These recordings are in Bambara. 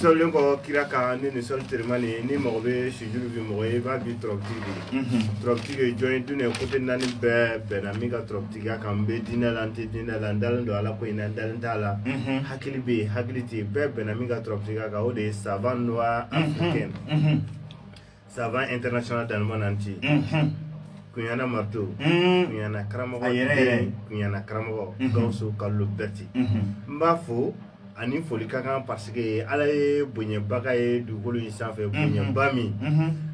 Sɔlen kɔ kira ka ni ni sɔli teelima ni ni mago bɛ sujuru bi mɔgɔ i b'a bi tɔrɔti tɔrɔti ye jɔn ye dunan ko tɛ naani bɛɛ bɛnna min ka tɔrɔtigiya kan n bɛ dinɛ la tɛ dinɛ la dalen don ala ko in na dalen t'a la hakili bɛ yen hakili tɛ bɛɛ bɛnna min ka tɔrɔtigiya kan o de ye savant noir africain Savant international dans le monde entier kuniana mato kuniana karamɔgɔ yɛrɛ kuniana karamɔgɔ gawusu kalilu berete n b'a fo a ni foli ka kan parce que ala ye bonyaba k'a ye dugukolo in sanfɛ bonyaba min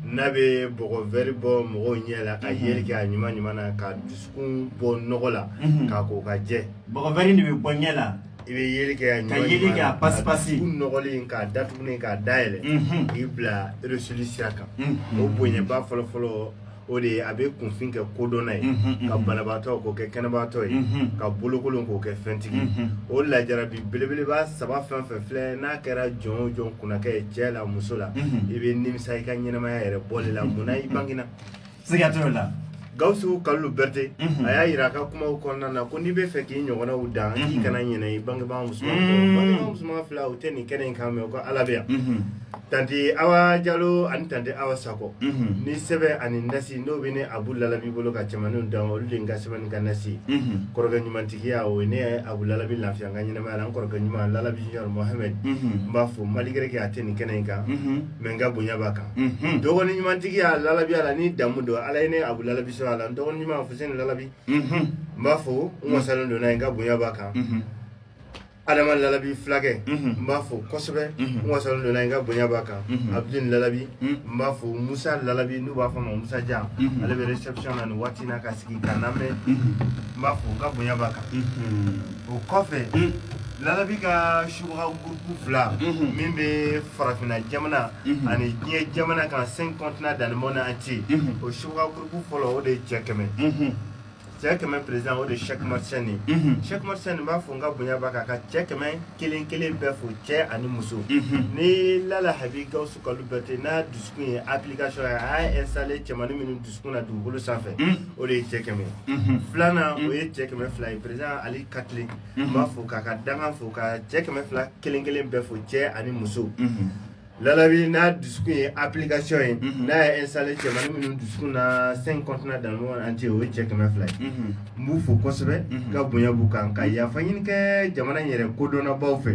n'a bɛ bɔgɔ wɛrɛ bɔ mɔgɔw ɲɛ la ka yeli kɛ a ɲuman ɲuman na ka dusukun bɔ nɔgɔ la k'a ko k'a jɛ bɔgɔ wɛrɛ de bɛ bɔ ɲɛ la I bɛ yeli kɛ ka yeli kɛ a pasi pasi u nɔgɔlen k'a datugulen k'a dayɛlɛ k'i bila réussite sira kan o bonyaba fɔlɔ fɔlɔ o de ye a bɛ kunfin kɛ kodɔnna ye ka banabaatɔ k'o kɛ kɛnɛbaatɔ ye ka bolokolon k'o kɛ fɛntigi ye o lajarabi belebeleba saba fɛn o fɛn filɛ n'a kɛra jɔn o jɔn kunna kɛ cɛ la muso la i bɛ nimisa i ka ɲɛnamaya yɛrɛ bɔli la munna i bangena siga t'o la gawusu kalilu berete mhm. a y'a yira a ka kumaw kɔnɔna na ko n'i b'a fɛ k'i ɲɔgɔnnaw dan k'i mhm. kana ɲinɛ i bangebaa musoman mhm. bangebaa musoman fila u tɛ nin kɛnɛ in kan mais u ka ala bɛ yan tante awa jalo ani tante awa sakɔ ni sɛbɛn ani nasi n'o bɛ ne abu lalabi bolo ka cɛmaninw dan olu de n ka sɛbɛn ni n ka nasi kɔrɔkɛ ɲumantigiya o ye ne abu lalabi lafiya n ka ɲɛnamaya la n kɔrɔkɛ ɲuman lalabi junior mohamɛd n b'a fo malgré que a tɛ nin kɛnɛ in kan mais n ka bonya b'a kan dɔgɔnin ɲumantigiya lalabi a la ni damu don ala ye ne abu lalabi son a la dɔgɔnin ɲuman alifuseni lalabi n b'a fo n wasalen don a ye n ka bonya b'a kan adama lalabi fulakɛ n b'a fo kosɛbɛ n wasalen don a ye n ka bonya b'a kan abidin lalabi n b'a fo musa lalabi n'u b'a fɔ a ma musajan ale bɛ réception na nin waati na ka sigi ka lamɛn n b'a fo n ka bonya b'a kan o kɔfɛ lalabi ka subaga groupe fila min bɛ farafinna jamana ani diɲɛ jamana kan cinq continents dans le monde entier o subaga groupe fɔlɔ o de ye cɛ kɛmɛ cɛ kɛmɛ président o de ye sɛki masani sɛki masani n b'a fo n ka bonya b'a kan ka cɛ kɛmɛ kelen kelen bɛɛ fo cɛ ani muso ni lalahabi gawusu kalilu berete n'a dusukun ye application a ye installer cɛmanin minnu dusu na dugukolo sanfɛ o de ye cɛ kɛmɛ ye filanan o ye cɛ kɛmɛ fila ye président ali katile n b'a fo k'a ka danga fo ka cɛ kɛmɛ fila kelen kelen bɛɛ fo cɛ ani muso lalabi n'a dusukun ye application ye n'a ye installer cɛmanin minnu dusukun na cinq continents dans le monde entier o ye cɛ kɛmɛ fila ye n b'u fo kosɛbɛ n ka bonya b'u kan ka yafa ɲini kɛ jamana in yɛrɛ kodɔnnabaw fɛ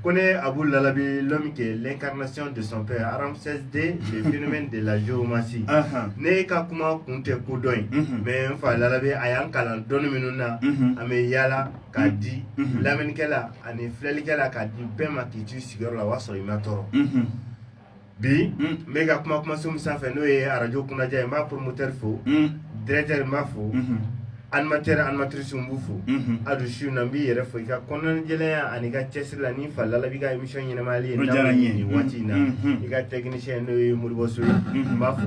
ko ne Abu Lalabi l'homme qui est l'incarnation de son père en Ramses II le phénomène de la géomancie ne ka kuma kun tɛ kodɔn ye mais n fa Lalabi a y'an kalan dɔnni minnu na an bɛ yaala k'a di lamɛnnikɛla ani filɛlikɛla k'a di bɛɛ ma k'i to i sigiyɔrɔ la o y'a sɔrɔ i ma tɔɔrɔ bi n bɛ ka kuma kumaso min sanfɛ n'o ye arajo kunnadi ye n b'a promoteur fo directeur n b'a fo animateur animatrice n b'u fo hali su na n b'i yɛrɛ fo i ka kɔnɔnajɛya ani i ka cɛsiri la ni fa lalabi ka émission in animeli ye waati in na i ka technicien n'o ye moribɔso ye n b'a fo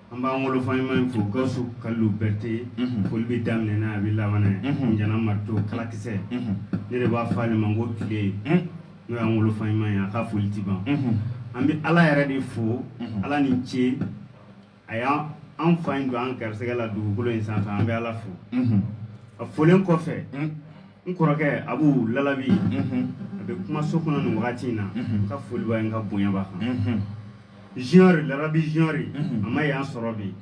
An b'an wolofa ɲuman in fo Gawusu Kalilu Bɛrite, unhun, foli bɛ daminɛ n'a ye a bɛ laban n'a ye, unhun, Ɲana marito kalakisɛ, unhun, ne de b'a fɔ ale ma ko tile, un, n'o y'an wolofa ɲuman ye a ka foli tɛ ban, unhun, an bɛ Ala yɛrɛ de fo, unhun, Ala ni ce a y'an fa in don an garisɛgɛ la dugukolo in sanfɛ an bɛ Ala fo, unhun, a folen kɔfɛ, un, n kɔrɔkɛ Abu Lalabi, unhun, a bɛ kumaso kɔnɔ nin wagati in na, unhun, n ka foli b'a ye n ka bonya b'a kan, unhun. junior lalabi junior a ma yan sɔrɔ bi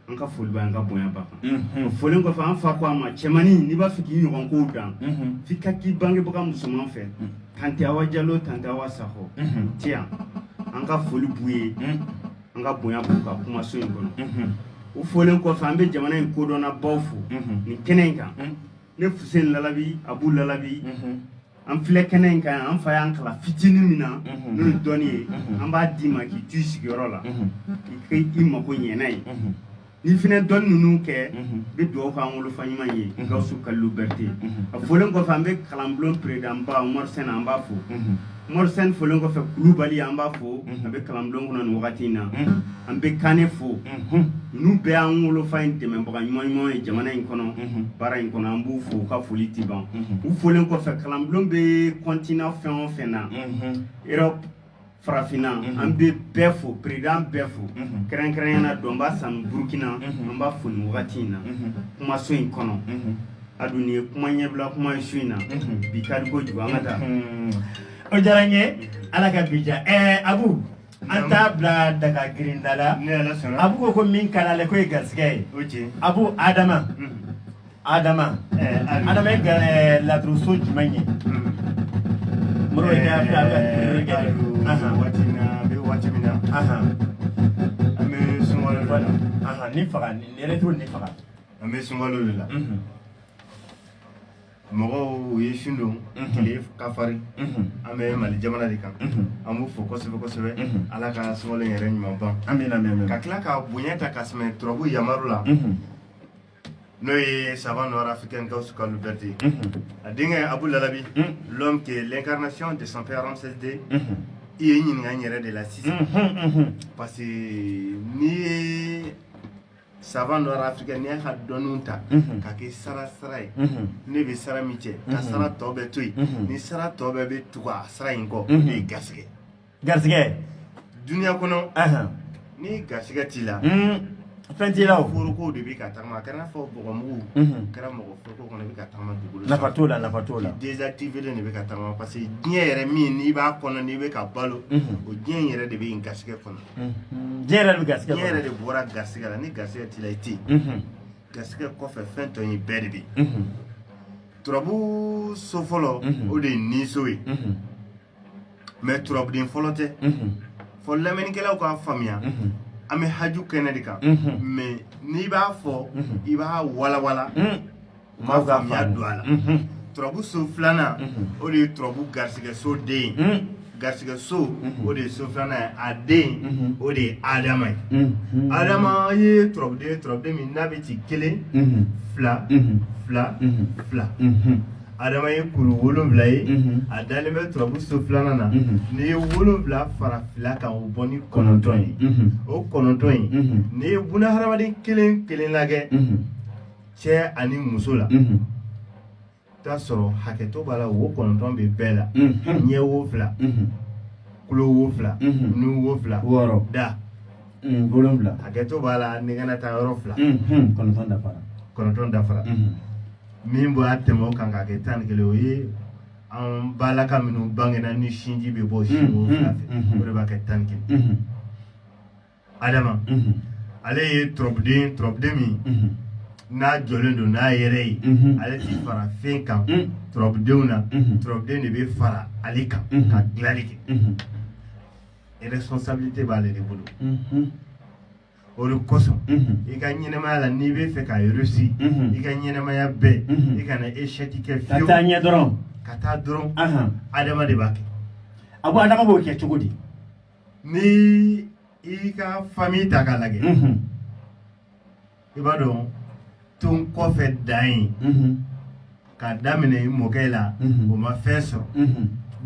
an ka foli b'a y'an ka bonya b'a kan folen kɔfɛ an fa ko a ma cɛmannin n'i b'a fɛ k'i ɲɔgɔn kow dan f'i ka k'i bangebaga musoman fɛ tante awa jalo tante awa sakɔ ti yan an ka foli b'u ye an ka bonya b'u kan kumaso in kɔnɔ u folen kɔfɛ an bɛ jamana in kodɔnnabaw fo nin kɛnɛ in kan ne fusen lalabi abu lalabi an filɛ kɛnɛ in kan an fa y'an kalan fitinin min na mhm. n'o ye dɔnni ye mhm. an b'a d'i ma k'i to i sigiyɔrɔ la mhm. k'i i mako ɲɛna ye ni fana dɔnni minnu kɛ i bɛ dugawu k'an wolofa ɲuman ye gawusu kalilu bɛrite a folen kɔfɛ an bɛ kalanbulon peredanba umaru sɛnɛ an b'a fo umaru sɛnɛ folen kɔfɛ kulubali an b'a fo a bɛ kalanbulon kɔnɔ nin wagati in na an bɛ kane fo ninnu bɛɛ an wolofa in dɛmɛbaga ɲuman ɲuman ye jamana in kɔnɔ baara in kɔnɔ an b'u fo u ka foli tɛ ban u folen kɔfɛ kalanbulon bɛ continent fɛn o fɛn na europe farafinna an bɛ bɛɛ fo peredan bɛɛ fo kɛrɛnkɛrɛnnenya la dɔnba sanu burukina an b'a fo nin wagati in na kumaso in kɔnɔ a dun ye kuma ɲɛbila kuma ye su in na bi ka di kojugu an ka taa o diyara n ye ala ka bi diya ɛɛ a An t'a bila daga grinda la a ko ko min kala la ko ye garisɛgɛ ye a ko adama adama adama laturu jumɛn ye waati min na an bɛ sun faga faga an bɛ sunka la mɔgɔw ye sun don tile ka farin an bɛ mali jamana de kan an b'u fo kosɛbɛ kosɛbɛ ala ka sunkalo yɛrɛ ɲuman ban an bɛ ka tila ka bonya ta ka sɛmɛ turabu yamaru la n'o ye savant noir d'afrique kaw suka bɛrɛte a denkɛ abu labi l'homme qui est l'incarnation de son père ramsès deux i ye ɲininka yɛrɛ de la sisan parce que ni savant noir d'afrique n'i y'a ka dɔnniw ta ka kɛ sara sara ye ne bɛ sara min cɛ ka sara tɔ bɛɛ to yen ni sara tɔ bɛɛ bɛ tugu a sara in kɔ n'o ye garisɛgɛ garisɛgɛ duniya kɔnɔ ni garisɛgɛ t'i la fɛn t'i la foroko de bɛ ka tagama a kɛra n'a fɔ bɔgɔmugu kɛra mɔgɔ foroko kɔnɔ i bɛ ka tagama dugukolo nafa t'o la nafa t'o la désactivélen de bɛ ka tagama parce que diɲɛ yɛrɛ min n'i b'a kɔnɔ n'i bɛ ka balo o diɲɛ in yɛrɛ de bɛ yen garisɛgɛ kɔnɔ diɲɛ yɛrɛ de bɛ garisɛgɛ diɲɛ yɛrɛ de bɔra garisɛgɛ la ni garisɛgɛ t'i la i tɛ yen garisɛgɛ kɔfɛ fɛn tɔ ye bɛɛ de bɛ yen turabu so fɔlɔ o de ye niso ye mais turabuden fɔlɔ tɛ fɔ lamɛnnikɛlaw k'an faamuya an bɛ haju kɛnɛ de kan mais n'i b'a fɔ i b'a walawala faamuya don a la turabu so filanan o de ye turabu garisigɛ so de ye garisigɛ so o de ye so filanan ye a den o de ye adama ye adama ye turabuden ye turabuden min n'a bɛ ci kelen fila fila fila adama ye kuru wolonwula ye a dalen bɛ turabu so filanan na n'i ye wolonwula fara fila kan o bɔ ni kɔnɔntɔn ye o kɔnɔntɔn ye n'i ye buna hadamaden kelen kelen lajɛ cɛ ani muso la t'a sɔrɔ hakɛto b'a la wo kɔnɔntɔn bɛ bɛɛ la ɲɛ wo fila tulo wo fila nun wo fila wɔɔrɔ da wolonwula hakɛto b'a la ɲɛgɛn na taa yɔrɔ fila kɔnɔntɔn dafara kɔnɔntɔn dafara min b'a tɛmɛ o kan k'a kɛ tan ni kelen o ye an balaka minnu bangena ni sinji bɛ bɔ sin wo fila fɛ o de b'a kɛ tan ni kelen adama ale ye turabuden turabuden min n'a jɔlen don n'a yɛrɛ ye ale ti fara fɛn kan turabudenw na turabuden de bɛ fara ale kan ka dilanli kɛ responsabilité b'ale de bolo o de kosɔn i ka ɲɛnɛmaya la n'i bɛ fɛ ka réussi i ka ɲɛnɛmaya bɛɛ i kana échec kɛ fiyewu ka taa ɲɛ dɔrɔn ka taa dɔrɔn adama de b'a kɛ a ko adama b'o kɛ cogo di ni i ka famille ta k'a lajɛ i b'a dɔn ton kɔfɛ dan ye ka daminɛ i mɔkɛ la o ma fɛn sɔrɔ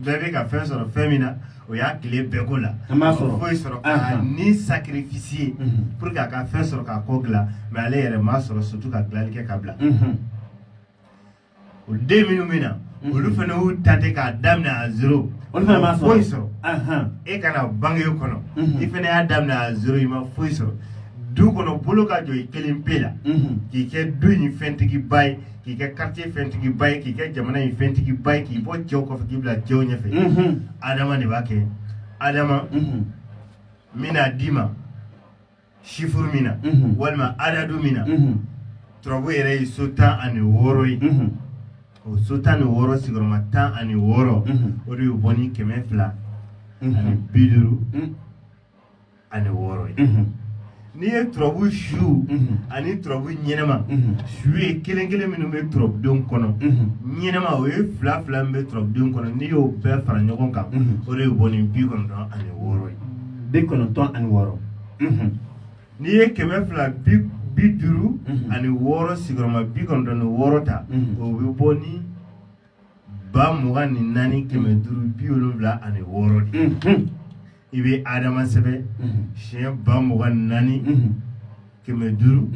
bɛɛ bɛ ka fɛn sɔrɔ fɛn min na o y'a tile bɛɛ k'o la foyi sɔrɔ k'a ni sakirifisiye pour que a ka fɛn sɔrɔ k'a kɔ dilan mais ale yɛrɛ m'a sɔrɔ surtout ka dilanli kɛ ka bila o den minnu bɛ na mhm. olu fana y'u ta ten k'a daminɛ à zéro olu fana ma foyi sɔrɔ e ka na bange o kɔnɔ mhm. i fana y'a daminɛ à zéro i ma foyi sɔrɔ du kɔnɔ bolo ka jɔ i kelen pe la mhm. k'i kɛ du in fɛntigiba ye k'i kɛ quartier fɛntigiba ye k'i kɛ jamana in fɛntigiba ye k'i bɔ cɛw kɔfɛ k'i bila cɛw ɲɛfɛ adama de b'a kɛ adama min n'a d'i ma sifuru min na walima adadu min na turabu yɛrɛ ye so tan ani wɔɔrɔ ye o so tan ni wɔɔrɔ sigiyɔrɔma tan ani wɔɔrɔ o de y'o bɔ ni kɛmɛ fila ani bi duuru ani wɔɔrɔ ye n'i ye turabu su ani turabu ɲɛnama su ye kelen kelen minnu bɛ turabudenw kɔnɔ ɲɛnama o ye fila fila min bɛ turabudenw kɔnɔ n'i y'o bɛɛ fara ɲɔgɔn kan o de y'o bɔ ni bi kɔnɔntɔn ani wɔɔrɔ ye bi kɔnɔntɔn ani wɔɔrɔ n'i ye kɛmɛ fila bi bi duuru ani wɔɔrɔ sigiyɔrɔma bi kɔnɔntɔn ni wɔɔrɔ ta o bɛ bɔ ni ba mugan ni naani kɛmɛ duuru bi wolonwula ani wɔɔrɔ de i bɛ adama sɛbɛn siɲɛ ba mugan ni naani kɛmɛ duuru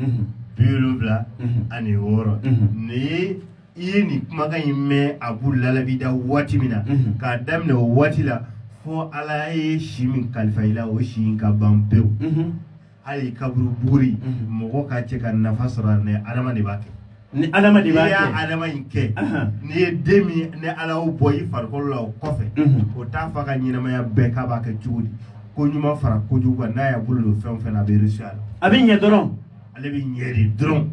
bi wolonwula ani wɔɔrɔ nin ye i ye nin kumakan in mɛn a b'u lalabida waati min na k'a daminɛ o waati la fo ala ye si min kalifa i la o si in ka ban pewu hali kaburu buguri mɔgɔ k'a cɛ ka nafa sɔrɔ a la adama de b'a kɛ ni adama de b'a kɛ n'i ye adama in kɛ n'i ye den min ni ala y'o bɔ i farikolo la o kɔfɛ o t'a fa ka ɲɛnamaya bɛɛ k'a b'a kɛ cogo di ko ɲuman fara kojugu kan n'a y'a bolo don fɛn o fɛn na a bɛ réussi a la a bɛ ɲɛ dɔrɔn ale bɛ ɲɛ de dɔrɔn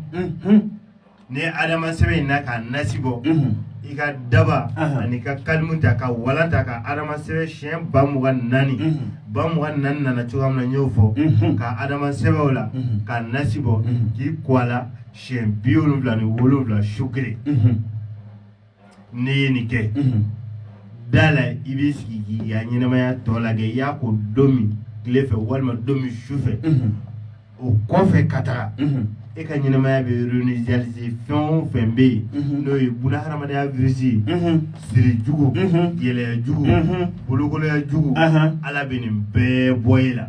ni adama sɛbɛn in na k'a nasi bɔ i ka daba ani ka kalimu ta ka walan ta ka adama sɛbɛn siyɛn ba mugan naani ba mugan naani nana cogoya min na n y'o fɔ ka adama sɛbɛn o la k'a nasi bɔ k'i ko a la siyɛn bi wolonwula ni wolonwula su kelen n'i ye nin kɛ da la i b'i sigi k'i ka ɲɛnamaya tɔ lajɛ i y'a ko don min tile fɛ walima don min su fɛ o kɔfɛ ka taga e ka ɲɛnamaya bɛ réinitialiser fɛn o fɛn bɛ yen n'o ye bunahadamadenya virus ye siri jugu gɛlɛya jugu bolokolonya jugu Ala bɛ nin bɛɛ bɔ e la.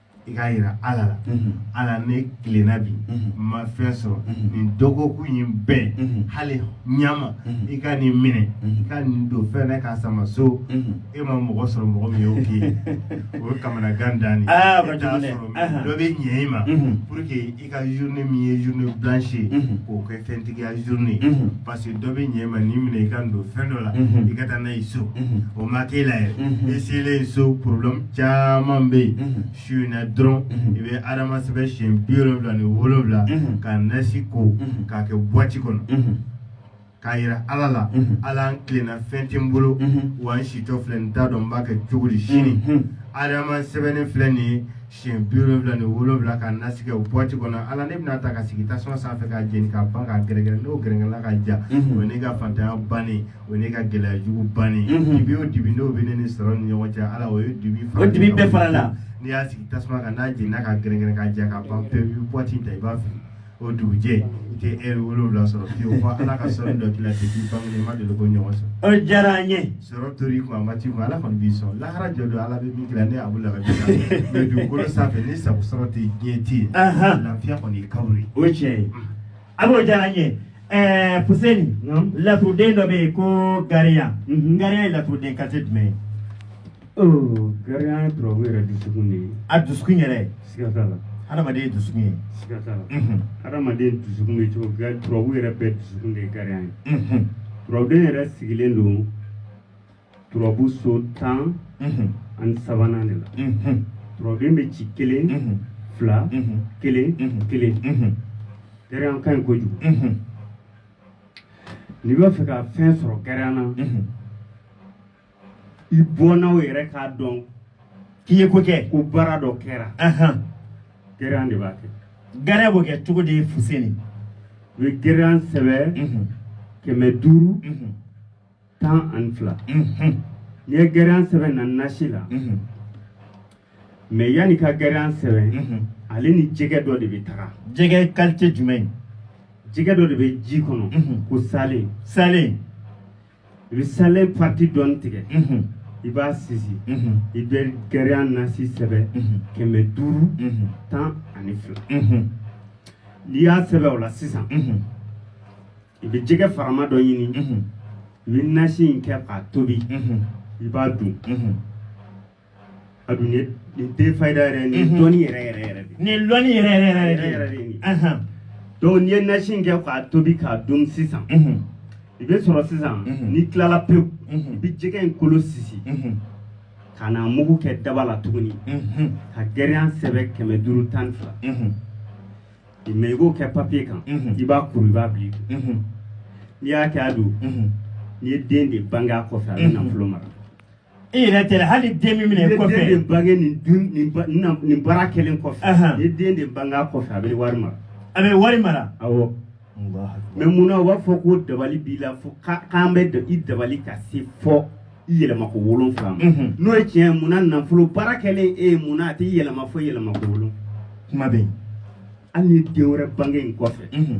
i k'a jira ala la ala ne tilenna bi n ma fɛn sɔrɔ nin dɔgɔkun in bɛɛ hali ɲama i ka nin minɛ i ka nin don fɛn na k'a sama so e ma mɔgɔ sɔrɔ mɔgɔ min y'o k'i ye o ye kamanagan dan de ye e t'a sɔrɔ dɔ bɛ ɲɛ i ma pour que i ka journée min ye journée blanche ye k'o kɛ fɛntigiya journée ye parce que dɔ bɛ ɲɛ ma nin minɛ i k'a don fɛn dɔ la i ka taa n'a ye so o ma k'e la yɛrɛ i selen so problème caman bɛ yen su in na dɔrɔn i bɛ adama sɛbɛn siɲɛ bi wolonwula ni wolonwula ka nasi ko k'a kɛ boîte kɔnɔ k'a jira ala la ala n tilenna fɛn tɛ n bolo wa n sitɔ filɛ n t'a dɔn n b'a kɛ cogo di sini adama sɛbɛnnen filɛ nin ye siɲɛ bi wolonwula ni wolonwula ka nasi kɛ o bɔti kɔnɔ ala ne bɛn'a ta k'a sigi tasuma sanfɛ k'a jeni k'a ban k'a gɛrɛgɛrɛ n'o gɛrɛgɛrɛla ka ja o ye ne ka fantanya bannen o ye ne ka gɛlɛya jugu bannen dibi o dibi n'o bɛ ne ni sɔrɔ ni ɲɔgɔn cɛ ala o ye dibi fara o dibi bɛɛ farala n'i y'a sigi tasuma kan n'a jenina ka gɛrɛgɛrɛ ka ja ka ban pewu i bɛ bɔti ta i b'a fili o dugujɛ i tɛ ɛri wolonwula sɔrɔ fiyewu fo ala ka sɔrɔ dɔ k'i la ten k'i bange i ma deli k'o ɲɔgɔn sɔrɔ o diyara an ye sɔrɔ tor'i kun a ma t'i kun ala kɔni b'i sɔn lahara jɔ don ala bɛ min kira ne abu laga bi mɛ dugukolo sanfɛ ni sago sɔrɔ tɛ diɲɛ tɛ yen Ahan. lafiya kɔni ye kawuri ye o ye tiɲɛ ye a b'o diyara an ye ɛɛ fuseni Naam. laturuden dɔ bɛ yen ko gariya Mhm. gariya ye laturuden kalite jumɛn ye gariya turabu yɛrɛ dusukun de ye a dusukun yɛrɛ siga t'a la hadamaden ye dusukun ye siga t'a la hadamaden dusukun bɛ cogo gari turabu yɛrɛ bɛɛ dusukun de ye gariya ye turabuden yɛrɛ sigilen don turabu so tan ani sabanan de la turabuden bɛ ci kelen fila kelen kelen gariya ka ɲi kojugu n'i b'a fɛ ka fɛn sɔrɔ gariya na i bɔnnaw yɛrɛ k'a dɔn k'i ye ko kɛ ko baara dɔ kɛra gariya de b'a kɛ gariya b'o kɛ cogo di fuseni i bɛ gariya sɛbɛn mhm. kɛmɛ duuru mhm. tan ani fila mhm. n'i ye gariya sɛbɛn na nasi la mɛ yann'i ka gariya sɛbɛn ale ni jɛgɛ dɔ de bɛ taga jɛgɛ kalite jumɛn jɛgɛ dɔ de bɛ ji kɔnɔ ko salen salen i bɛ salen pati dɔɔni tigɛ i b'a sisi i bɛ gariya nasi sɛbɛn kɛmɛ duuru tan ani fila n'i y'a sɛbɛn o la sisan i bɛ jɛgɛ farama dɔ ɲini i bɛ nasi in kɛ k'a tobi i b'a dun a dun ye nin tɛ fayida yɛrɛ ye nin dɔnni yɛrɛ yɛrɛ yɛrɛ de nin lɔnni yɛrɛ yɛrɛ yɛrɛ yɛrɛ yɛrɛ de ye nin Ahan. donc n'i ye nasi in kɛ k'a tobi k'a dun sisan Mhm. i bɛ sɔrɔ sisan Mhm. n'i tilala pewu Mhm. i bɛ jɛgɛ in kolo sisi Mhm. ka n'a mugu kɛ daba la tuguni Mhm. ka gariya sɛbɛn kɛmɛ duuru tan ni fila Mhm. mɛ i b'o kɛ papiye kan Mhm. i b'a kuru i b'a bila i kun Mhm. n'i y'a kɛ a don Mhm. n'i ye den de bange a kɔfɛ a bɛ Mhm. nafolo mara i yɛrɛ tɛ dɛ hali den min minɛ i bɛ den de kɔfɛ bange nin dun nin ba- nin na- nin baara kɛlen kɔfɛ Ahan. ni den de bang'a kɔfɛ a bɛ wari mara a bɛ wari mara awɔ mɛ mun na u b'a fɔ ko dabali b'i la fo ka- k'an bɛ da- i dabali ka se fo i yɛlɛma ko wolonfila ma Mhm. n'o ye tiɲɛ ye mun na nafolo baara kɛlen e ye mun na a tɛ yɛlɛma fo yɛlɛma ko wolonfila kuma bɛ yen hali ni den wɛrɛ bange i kɔfɛ Mhm.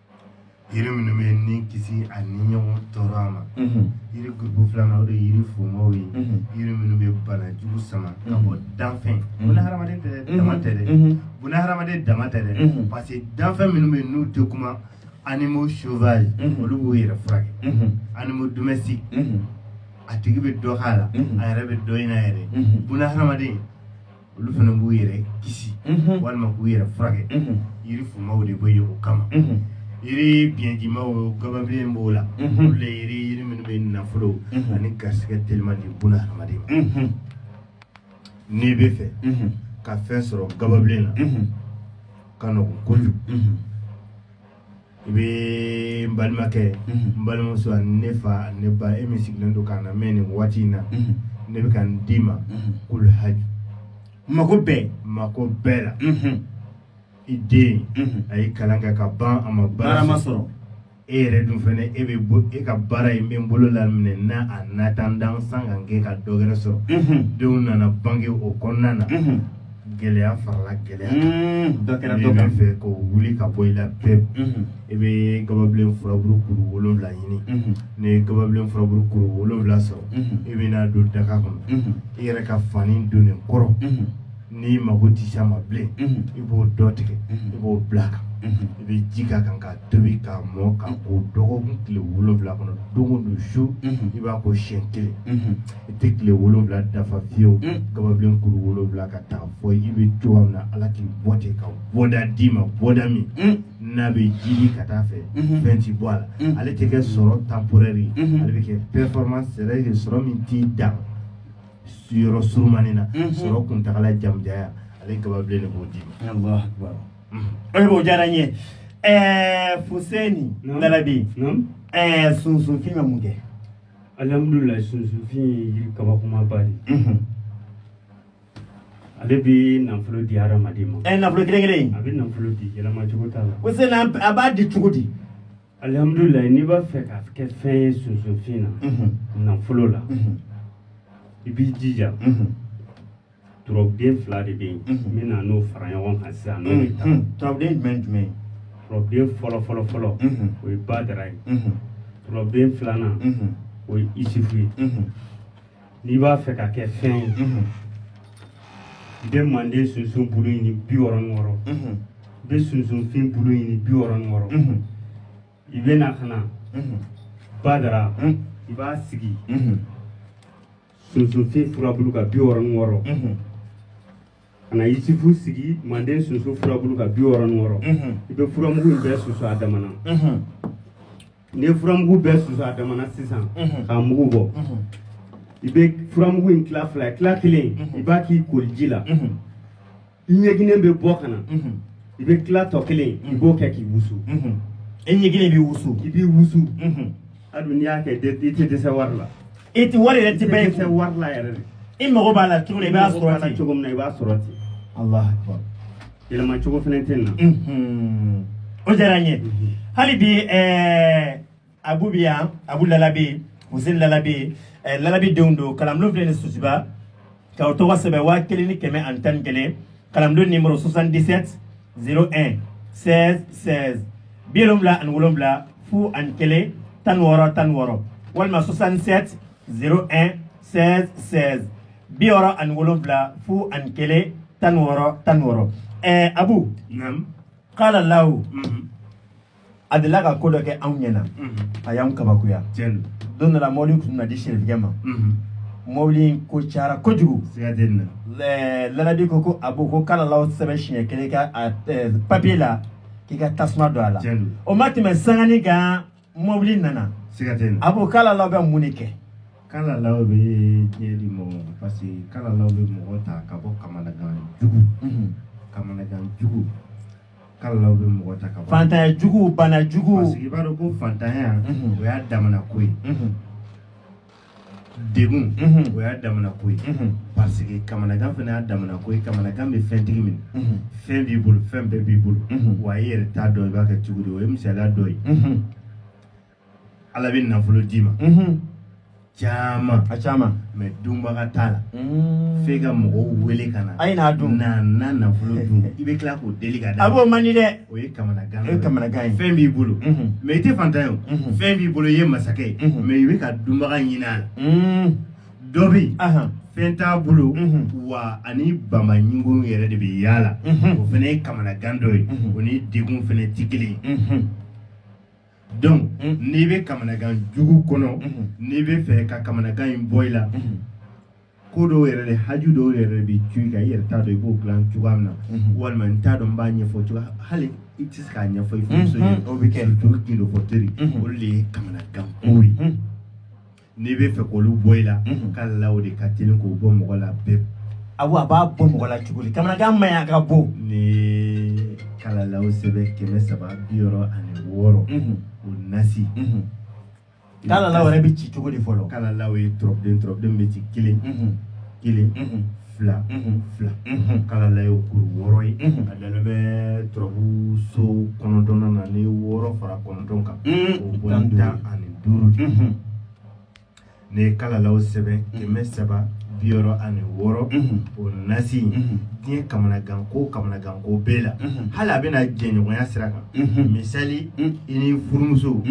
yiri minnu bɛ ni kisi a ni ɲɔgɔn tɔɔrɔya ma yiri gurupu filanan o de ye yiri fumaw ye yiri minnu bɛ banajugu sama ka bɔ danfɛn buna hadamaden tɛ dɛ dama tɛ dɛ buna hadamaden dama tɛ dɛ parce que danfɛn minnu bɛ n'u tɛ kuma animaux sauvages olu b'u yɛrɛ furakɛ animaux domestiques a tigi bɛ dɔ k'a la a yɛrɛ bɛ dɔ ɲini a yɛrɛ buna hadamaden olu fana b'u yɛrɛ kisi walima k'u yɛrɛ furakɛ yiri fumaw de bɛ yen o kama yiri biɲɛdimaw gababilen b'o la olu de yiri yiri minnu bɛ nafolo ani garisɛgɛ teliman di buna hadamaden ma n'i bɛ fɛ ka fɛn sɔrɔ gababilen na a ka nɔgɔn kojugu i bɛ n balimakɛ n balimamuso ne fa ne ba e min sigilen don k'an lamɛn nin waati in na ne bɛ kan d'i ma kulu haju mako bɛɛ mako bɛɛ la i den a ye kalan kɛ ka ban a ma baara ma sɔrɔ e yɛrɛ dun fana e bɛ e ka baara in bɛ n bolo laminɛ n'a a natan dan san ka kɛ ka dɔ wɛrɛ sɔrɔ denw nana bange o kɔnɔna na gɛlɛya farala gɛlɛya kan dɔ kɛra dɔ kan fɛ k'o wuli ka bɔ i la pewu i bɛ gababilen furaburu kuru wolonwula ɲini n'i ye gababilen furaburu kuru wolonwula sɔrɔ i bɛ n'a don daga kɔnɔ i yɛrɛ ka fani donnen kɔrɔ n'i mago tɛ s'a ma bilen i b'o dɔ tigɛ i b'o bila a kan i bɛ ji k'a kan k'a tobi k'a mɔ k'a ko dɔgɔkun tile wolonwula kɔnɔ don o don su i b'a ko siɲɛ kelen I tɛ tile wolonwula dafa fiyewu gababilen kuru wolonwula ka taa fɔ i bɛ cogo min na ala k'i bɔ cɛ ka bɔda d'i ma bɔda min n'a bɛ jiidi ka taa fɛ fɛn tɛ bɔ a la ale tɛ kɛ sɔrɔ temporaire ye ale bɛ kɛ permanence de sɔrɔ min tɛ dan sigiyɔrɔ surunmanin na sɔrɔ kuntagala jamajan ale gababilen de b'o d'i ma o diyara n ye ɛɛ fuseni labi ɛɛ sunsunfin bɛ mun kɛ alihamudulila sunsunfin ye yiri kabakomaba de ye mhm. ale bɛ nafolo di hadamaden ma ɛ eh, nafolo kelen kelen in a bɛ nafolo di yɛlɛma cogo t'a la o se na a b'a di cogo di alihamudulila n'i b'a fɛ ka kɛ fɛn ye sunsunfin na mhm. nafolo la mhm. i b'i jija turabuden fila de bɛ yen n mhm. bɛna n'o fara ɲɔgɔn kan sisan n'o bɛ taa turabuden jumɛn jumɛn turabuden fɔlɔ fɔlɔ fɔlɔ mhm. o ye badara ye mhm. turabuden filanan o ye isifu ye n'i b'a fɛ ka kɛ fɛn ye i bɛ manden sunsun bulu ɲini bi wɔɔrɔ ni wɔɔrɔ i bɛ sunsunfin bulu ɲini bi wɔɔrɔ ni wɔɔrɔ i bɛ na ka na badara i b'a sigi sunsunfin furabulu ka bi wɔɔrɔ ni wɔɔrɔ ka na yisifu sigi manden sunsun furabulu ka bi wɔɔrɔ ni wɔɔrɔ i bɛ furamugu in bɛɛ susu a damana n'i ye furamugu bɛɛ susu a damana sisan k'a mugu bɔ i bɛ furamugu in tila fila ye tila kelen i b'a k'i koliji la ɲiginnen bɛ bɔ ka na i bɛ tila tɔ kelen i b'o kɛ k'i wusu e ɲiginnen b'i wusu i b'i wusu hali n'i y'a kɛ i tɛ dɛsɛ wari la i tɛ wari yɛrɛ tɛ bɛɛ ye dɛsɛ wari la yɛrɛ de i mago b'a la cogo min i b'a sɔrɔ ten cogo min na i b'a sɔrɔ ten Allahu akbar yɛlɛma cogo fana tɛ na o diyara n ye hali bi ɛɛ abu bɛ yan abu lalabi huseni lalabi eh, lalabi denw don kalanbulon filɛ nin susuba ka o tɔgɔ sɛbɛn waa kelen ni kɛmɛ ani tan ni kelen kalanbulon nimero 77 01 16 16 bi wolonwula ani wolonwula fu ani kelen tan ni wɔɔrɔ tan ni wɔɔrɔ walima 67 01 16 16 bi wɔɔrɔ ani wolonwula fu ani kelen tan ni wɔɔrɔ tan ni wɔɔrɔ ɛɛ abu Naam. kalalahu Mhm. a delila ka ko dɔ kɛ anw ɲɛna a y'anw kabakoya don dɔ la mɔbili tun na di sirifigɛ ma mɔbili in ko cayara kojugu lalabi ko ko abu ko kalalahu sɛbɛn siɲɛ kelen ka papiye la k'i ka tasuma don a la o ma tɛmɛ sanganin kan mɔbili nana abu kalalahu bɛ mun de kɛ kalalahu bɛ diɲɛ di mɔgɔ ma parce que kalalahu bɛ mɔgɔ ta ka bɔ kamanagan jugu kamanagan jugu kalalahu bɛ mɔgɔ ta ka bɔ faantanya jugu bana jugu parce que i b'a dɔn ko faantanya unhun o y'a damana ko ye unhun degun unhun o y'a damana ko ye unhun parce que kamanagan fana y'a damana ko ye kamanagan bɛ fɛntigi minɛ unhun fɛn b'i bolo fɛn bɛɛ b'i bolo unhun wa i yɛrɛ t'a dɔn i b'a kɛ cogo di o ye misaliya dɔ ye unhun ala bɛ nafolo d'i ma caman a caman mais dunbaga t'a la mm. f'e ka mɔgɔw wele ka na a ye n'a dun na na nafolo dun i bɛ tila k'u deli ka d'a abu o man di dɛ o ye kamanagan o ye kamanagan ye fɛn b'i bolo mm-hmm. mais i tɛ faantan ye o mm-hmm. fɛn b'i bolo i ye masakɛ ye mm-hmm. mais i bɛ ka dunbaga ɲini a la mm. dɔ bɛ yen fɛn t'a bolo wa a ni bama ɲɔgɔn yɛrɛ de bɛ yaala o fana ye kamanagan dɔ ye o ni degun fana tɛ kelen ye donc mm. n'i bɛ kamanagan jugu kɔnɔ mm-hmm. n'i bɛ fɛ ka kamanagan in bɔ i la mm-hmm. ko dɔw yɛrɛ de haju dɔw yɛrɛ bɛ cun i kan i yɛrɛ t'a dɔn i b'o dilan cogoya min na mm-hmm. walima n t'a dɔn n b'a ɲɛfɔ cogoya hali i tɛ se k'a ɲɛfɔ i furumuso ye o bɛ kɛ surtout gundo fɔ teri olu de ye kamanagan kow ye N'i bɛ fɛ k'olu bɔ i la, unhun, kalalaw de ka teli k'o bɔ mɔgɔ la pewu. Awɔ, a b'a bɔ mɔgɔ la cogo di? Kamanagan man ɲi a ka bon. N'i ye kalalaw sɛbɛn 366, unhun, o nasi, unhun, kalalaw yɛrɛ bɛ ci cogo di fɔlɔ? Kalalaw ye turabuden turabuden bɛ ci kelen, unhun, kelen, unhun. fila fila kalalaw ye kuru wɔɔrɔ ye a dalen bɛ turabu so kɔnɔntɔn na ni wɔɔrɔ fara kɔnɔntɔn kan o bɔ tan ani duuru de n'i ye kalalaw sɛbɛn kɛmɛ saba bi wɔɔrɔ ani wɔɔrɔ o nasi in diɲɛ kamanagan ko kamanagan ko bɛɛ la hali a bɛna jɛɲɔgɔnya sira kan misali i ni furumuso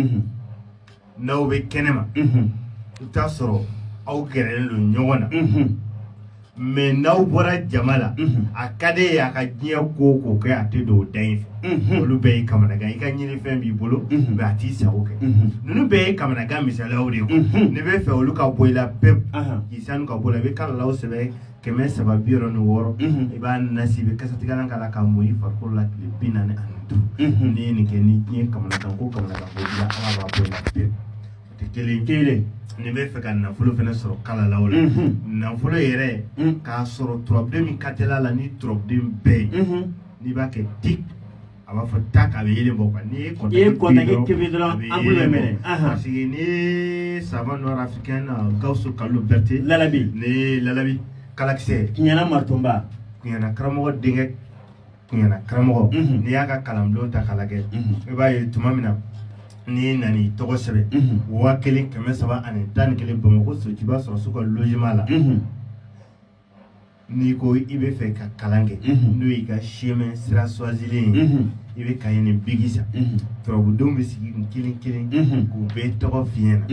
n'aw bɛ kɛnɛ ma i t'a sɔrɔ aw gɛrɛlen don ɲɔgɔn na mais n'aw bɔra jama la a ka di e ye a ka diɲɛ ko k'o kɛ a tɛ don o da in fɛ olu bɛɛ ye kamanagan i ka ɲinifɛn b'i bolo mais a t'i sago kɛ ninnu bɛɛ ye kamanagan misaliw de ye n'i bɛ fɛ olu ka bɔ i la pewu k'i sanu ka bɔ a la i bɛ kalalaw sɛbɛn kɛmɛ saba bi wɔɔrɔ ni wɔɔrɔ mhm. i b'a nasi i bɛ kasatigɛlan k'a la k'a mu i farikolo la tile bi naani ani duuru mhm. n'i ye nin kɛ ni diɲɛ kamanagan ko kamanagan ko b'i la ala b'a bɔ i la pewu o tɛ kelen kelen n'i bɛ fɛ ka nafolo fana sɔrɔ kalalaw la mhm. nafolo yɛrɛ k'a sɔrɔ turabuden min ka teli a la ni turabuden bɛɛ ye n'i b'a kɛ di a b'a fɔ ta k'a bɛ yeelen bɔ quoi n'i ye contact I ye contact tobi tobi dɔrɔn a bɛ ampoule bɛ yeelen bɔ. mɛnɛ, anhan. parce que n'i ye savant noir africain na Gawusu Kalilu Berete Lalabi. ni Lalabi kalakisɛ Kuɲana Matonba kuɲana karamɔgɔ denkɛ kuɲana karamɔgɔ Mhm. n'i y'a ka kalanbulon ta k'a lajɛ Mhm. i b'a ye tuma min na n'i nana i tɔgɔ sɛbɛn Mhm. waa kelen kɛmɛ saba ani tan ni kelen Bamakɔ Sotuba sɔrɔso ka logement la Mhm. n'i ko i bɛ fɛ ka kalan kɛ n'o y'i ka chemin sira choisilen ye i bɛ cahier ni biki san turabudenw bɛ sigi kelen kelen k'u bɛɛ tɔgɔ f'i ɲɛna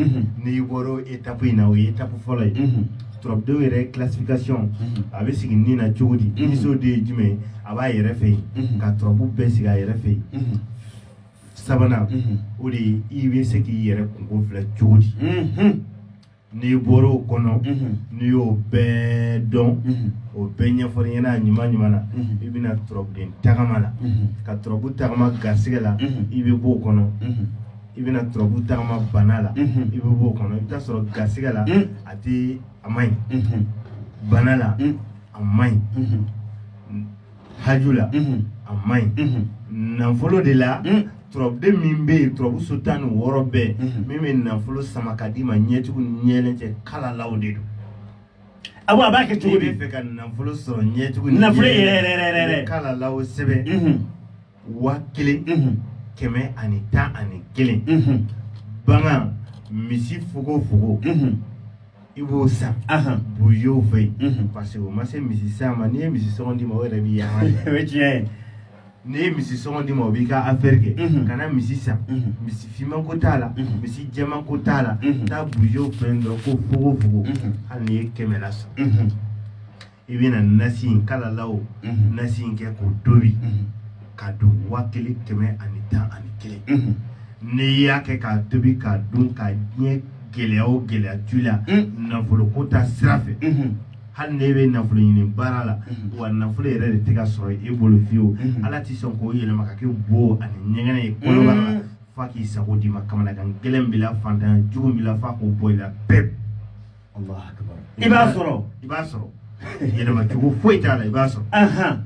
n'i bɔra étape in na o ye étape fɔlɔ ye turabudenw yɛrɛ classification a bɛ sigi ni na cogo di niso de ye jumɛn a b'a yɛrɛ fɛ yen ka turabu bɛɛ sigi a yɛrɛ fɛ yen sabanan o de ye i bɛ se k'i yɛrɛ kunko filɛ cogo di n'i bɔra o kɔnɔ n'i y'o bɛɛ dɔn o bɛɛ ɲɛfɔra i ɲɛna a ɲuman ɲuman na i bɛ na turabuden tagama la ka turabu tagama gasɛgɛ la i bɛ bɔ o kɔnɔ i bɛna turabu tagama bana la i bɛ bɔ o kɔnɔ i bɛ t'a sɔrɔ gasɛgɛ la a tɛ a man ɲi bana la a man ɲi haju la a ma ɲi nafolo de la turabuden min bɛ yen turabu so tan ni wɔɔrɔ bɛɛ min bɛ nafolo sama ka d'i ma ɲɛtugu ni ɲɛyɛlɛ cɛ kalalaw de don a b'a kɛ i b'a fɛ ka nafolo sɔrɔ ɲɛtugu ni nafolo yɛrɛ yɛrɛ yɛrɛ kalalaw sɛbɛn waa kelen kɛmɛ ani tan ani kelen bagan misi fogofogo i b'o san busew fɛ yen parce que o ma se misi san ma n'i ye misi sɔngɔn d'i ma o yɛrɛ b'i yanga o ye tiɲɛ ye n'i ye misi sɔngɔn d'i ma o b'i ka affaire kɛ kana misi san misi finman ko t'a la misi jɛman ko t'a la taa busew fɛ yen dɔrɔn ko fogofogo hali n'i ye kɛmɛ la san i bɛna nasi in kalalaw mhm. nasi in kɛ k'o tobi mhm. ka don waa kelen kɛmɛ ani tan ani kelen mhm. n'i y'a kɛ k'a tobi k'a dun ka ɲɛ gɛlɛya o gɛlɛya tu la nafolo ko ta sira fɛ hali n'e bɛ nafolo ɲini baara la wa nafolo yɛrɛ de tɛ ka sɔrɔ e bolo fiyewu ala tɛ sɔn k'o yɛlɛma ka kɛ bo ani ɲɛgɛn ye kɔnɔbara la f'a k'i sago d'i ma kamanagan gɛlɛn b'i la fantanya jugu b'i la f'a k'o bɔ i la pewu i b'a sɔrɔ i b'a sɔrɔ yɛlɛma cogo foyi t'a la i b'a sɔrɔ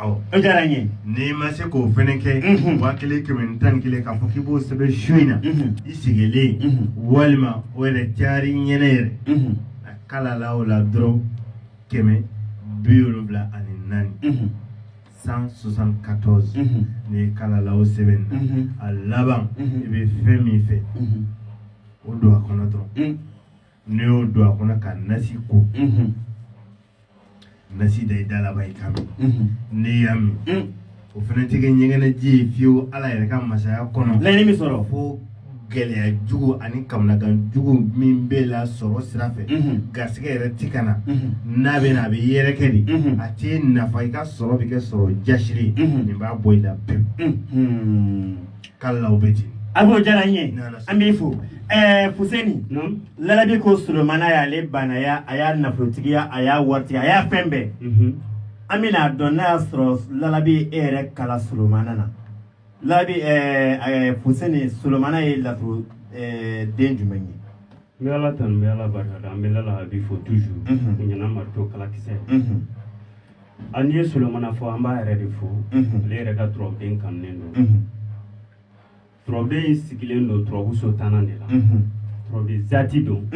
o diyara n ye n'i ma se k'o fɛnɛ kɛ mhm. waa kelen kɛmɛ ni tan ni kelen k'a fɔ k'i b'o sɛbɛn su in na mhm. i sigilen mhm. walima o yɛrɛ cayara i ɲɛ na yɛrɛ a kalalaw la dɔrɔn kɛmɛ biwolonwula ani naani cent soixante-quatorze n'i ye kalalaw sɛbɛn na a laban i bɛ fɛn min fɛ o don a kɔnɔ dɔrɔn n'i y'o don a kɔnɔ ka nasi ko nasi da i da la ban i k'a min n'i y'a min o fana tɛ kɛ ɲɛgɛnɛji ye fiyewu ala yɛrɛ ka masaya kɔnɔ laɲini min sɔrɔ fo gɛlɛya jugu ani kamanagan jugu min b'i la sɔrɔ sira fɛ garisɛgɛ yɛrɛ ti ka na n'a bɛ na a bɛ yɛrɛkɛ de a tɛ nafa i ka sɔrɔ bɛ kɛ sɔrɔ jasiri nin b'a bɔ i la pewu kalalaw bɛ ten a b'o diyara n ye an b'i fo ɛɛ fuseni lalabi ko solomana y'ale baanaya a y'a nafolotigiya a y'a waritigiya a y'a fɛn bɛɛ an bɛna a dɔn n'a y'a sɔrɔ lalabi e yɛrɛ ka la solomana na labi fuseni solomana ye laturu den jumɛn ye n bɛ ala tanu n bɛ ala barika da an bɛ lalabi fo toujours ɲana marito kalakisɛ an n'i ye solomana fɔ an b'a yɛrɛ de fɔ ala yɛrɛ ka turabuden kanunen don turabuden in sigilen don turabuso tannan de la turabuden zati don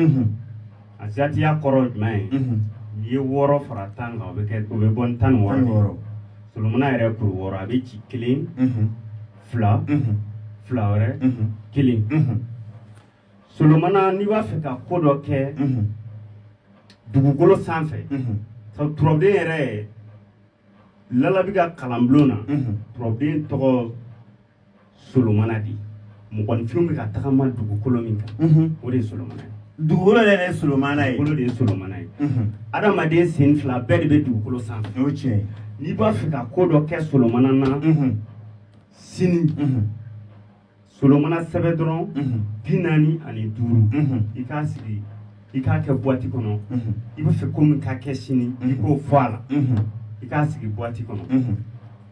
a zatiya kɔrɔ jumɛn ye mhm. n'i ye wɔɔrɔ fara tan kan o bɛ kɛ o bɛ bɔ ni tan ni wɔɔrɔ ye solomana yɛrɛ kuru wɔɔrɔ a bɛ ci kelen mhm. fila mhm. fila wɛrɛ kelen solomana n'i b'a fɛ ka ko dɔ kɛ dugukolo sanfɛ turabuden yɛrɛ lalabi ka kalanbulon na turabuden tɔgɔ solomana de ye mɔgɔninfinw bɛ ka tagama dugukolo min kan mhm. o de ye solomana ye dugukolo yɛrɛ ye solomana ye dugukolo de ye solomana ye mhm. adamaden sen fila bɛɛ de bɛ dugukolo sanfɛ o tiɲɛ n'i b'a fɛ ka ko dɔ kɛ solomana na mhm. sini solomana sɛbɛn dɔrɔn bi naani ani duuru i k'a sigi i k'a kɛ buwati kɔnɔ i b'a fɛ ko min ka kɛ sini i k'o fɔ a la i k'a sigi buwati kɔnɔ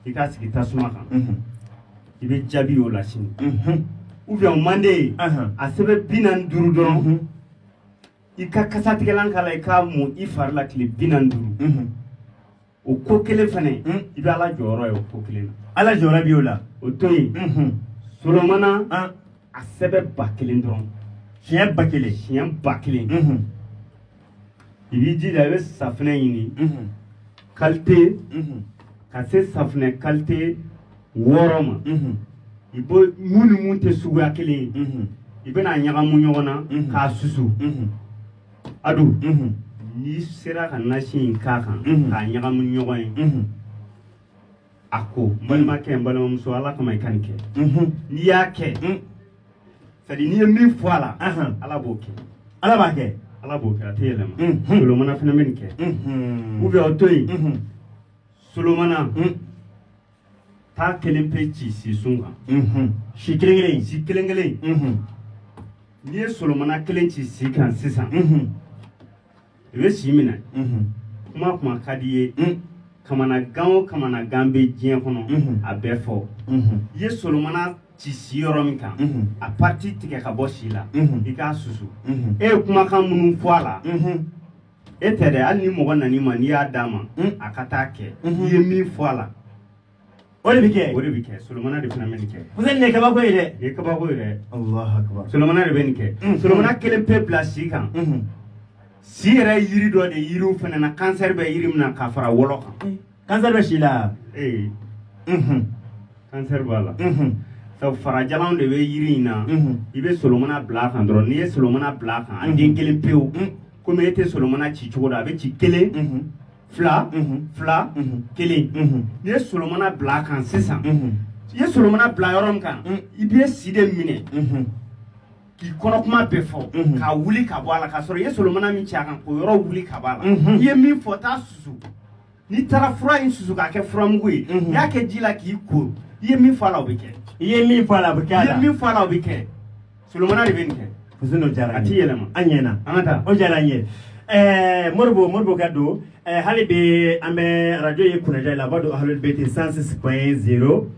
i k'a sigi tasuma kan i bɛ jaabi y'o la sini ou bien o man d'i ye a sɛbɛn bi naani duuru dɔrɔn i ka kasatigɛlan k'a la i k'a mun i fari la tile bi naani duuru o ko kelen fana hmm. i bɛ ala jɔyɔrɔ ye o ko kelen na ala jɔyɔrɔ bɛ y'o la o to yen hmm. solomana ah. a sɛbɛn ba kelen dɔrɔn siɲɛ ba kelen siɲɛ ba kelen hmm. i b'i jija i bɛ safinɛ ɲini kalite ka se safinɛ kalite wɔɔrɔ ma i b'o mun ni mun tɛ suguya kelen ye i bɛn'a ɲagamu ɲɔgɔn na k'a susu a don n'i sera ka nasi in k'a kan k'a ɲagamu ɲɔgɔn ye a ko balimakɛ n balimamuso ala kama i ka nin kɛ n'i y'a kɛ sadi n'i ye min fɔ a la ala b'o kɛ ala b'a kɛ ala b'o kɛ a tɛ yɛlɛma solomana fana bɛ nin kɛ ou bien o to yen solomana taa kelen pe ci sisun kan mhm. si kelen kelen si kelen kelen mhm. n'i ye solomana kelen ci si kan sisan mhm. i bɛ si minɛ kuma kuma ka d'i ye mm. kamanagan o kamanagan bɛ diɲɛ kɔnɔ a bɛɛ fɔ i ye solomana ci si yɔrɔ min kan a pariti tigɛ ka bɔ si la i k'a susu e ye kumakan minnu fɔ a la e tɛ dɛ hali ni mɔgɔ nana i ma n'i y'a d'a ma hmm. a ka taa kɛ n'i ye min fɔ a la o de bɛ kɛ o de bɛ kɛ solomana de fana bɛ nin kɛ parce que nin ye kabako ye dɛ nin ye kabako ye dɛ solomana de bɛ nin kɛ hmm. solomana kelen pe bila si kan hmm. si yɛrɛ ye yiri dɔ de yiriw fana na kansɛri bɛ yiri min na ka fara wɔlɔ kan kansɛri bɛ si la ee kansɛri b'a la sabu farajalan de bɛ yiri in na i bɛ solomana bila a kan dɔrɔn n'i ye solomana bila a kan a den kelen pewu komi e tɛ solomana ci cogo dɔn a bɛ ci kelen fila fila kelen n'i ye solomana bila a kan sisan i ye solomana bila yɔrɔ min kan i bɛ si de minɛ k'i kɔnɔ kuma bɛɛ fɔ mhm. k'a wuli ka bɔ a la k'a sɔrɔ i ye solomana min cɛ a kan k'o yɔrɔ wuli ka bɔ a la mhm. i ye min fɔ t'a susu n'i taara fura in susu k'a kɛ furamugu ye mhm. n'i y'a kɛ ji la k'i ko i ye min fɔ a la o bɛ kɛ i ye min fɔ a la o bɛ kɛ a la i ye min fɔ a la o bɛ kɛ solomana de bɛ nin kɛ kusin dɔ jara a ti yɛlɛma an ɲɛna an ka taa o jara an ye ɛɛ moribo moribo ka don ɛɛ hali bi an bɛ arajo ye kunajɛ la aw b'a dɔn ahalibete sansi pɔn zero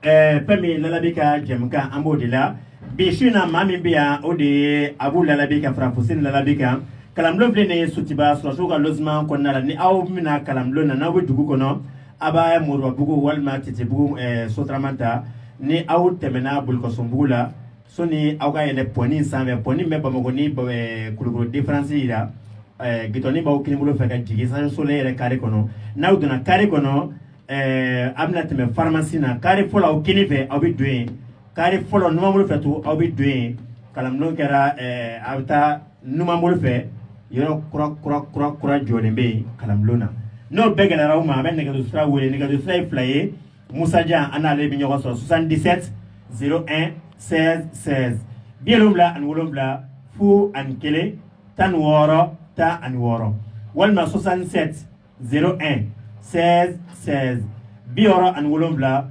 ɛɛ fɛn min lalabi ka jɛmukan an b'o de la bi su in na maa min bɛ yan o de ye abu lalabi ka fara fuseni lalabi kan kalanbulon filɛ nin ye sotuba sɔrɔdasiw ka losiman kɔnɔna la ni aw bɛna kalanbulon na n'aw bɛ dugu kɔnɔ aw bɛ moribabugu walima titibugu ɛɛ sotarama ta ni aw tɛmɛna bulukasumbugu la sɔni aw ka yɛlɛ pɔni in sanfɛ pɔni min bɛ bamakɔ ni ba- ɛɛ kulikoro diferansi jira ɛɛ gitɔrɔn b'aw kinibolo fɛ ka jigin sanfɛ solen yɛrɛ kare kɔnɔ n'aw donna kare kɔnɔ ɛɛ a bɛna tɛmɛ faramasi na kare fɔlɔ aw kinin fɛ aw bɛ don yen kare fɔlɔ numanbolo fɛ to aw bɛ don yen kalanbulon kɛra a bɛ taa numanbolo fɛ yɔrɔ kura kura jɔlen bɛ yen kalanbulon na n'o bɛɛ gɛlɛyara aw ma aw bɛ nɛgɛjuru sira wele nɛgɛjuru sira ye fila ye musajan aw n'ale bɛ ɲɔgɔn sɔrɔ susan disɛti zero ɛn sɛzi sɛzi bi wolonwula ani wolonwula fu ani kelen tan ni wɔɔrɔ tan ani wɔɔrɔ walima susan sɛti 0 1 16 16 bi wɔɔrɔ ani wolonwula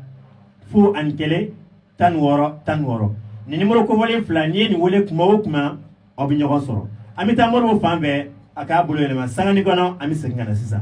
fu ani kelen tan ni wɔɔrɔ tan ni wɔɔrɔ nin nimoro kofɔlen fila n'i ye nin wele kuma o kuma aw bɛ ɲɔgɔn sɔrɔ an bɛ taa moribo fan fɛ a k'a bolo yɛlɛma sanganin kɔnɔ an bɛ segin ka na sisan.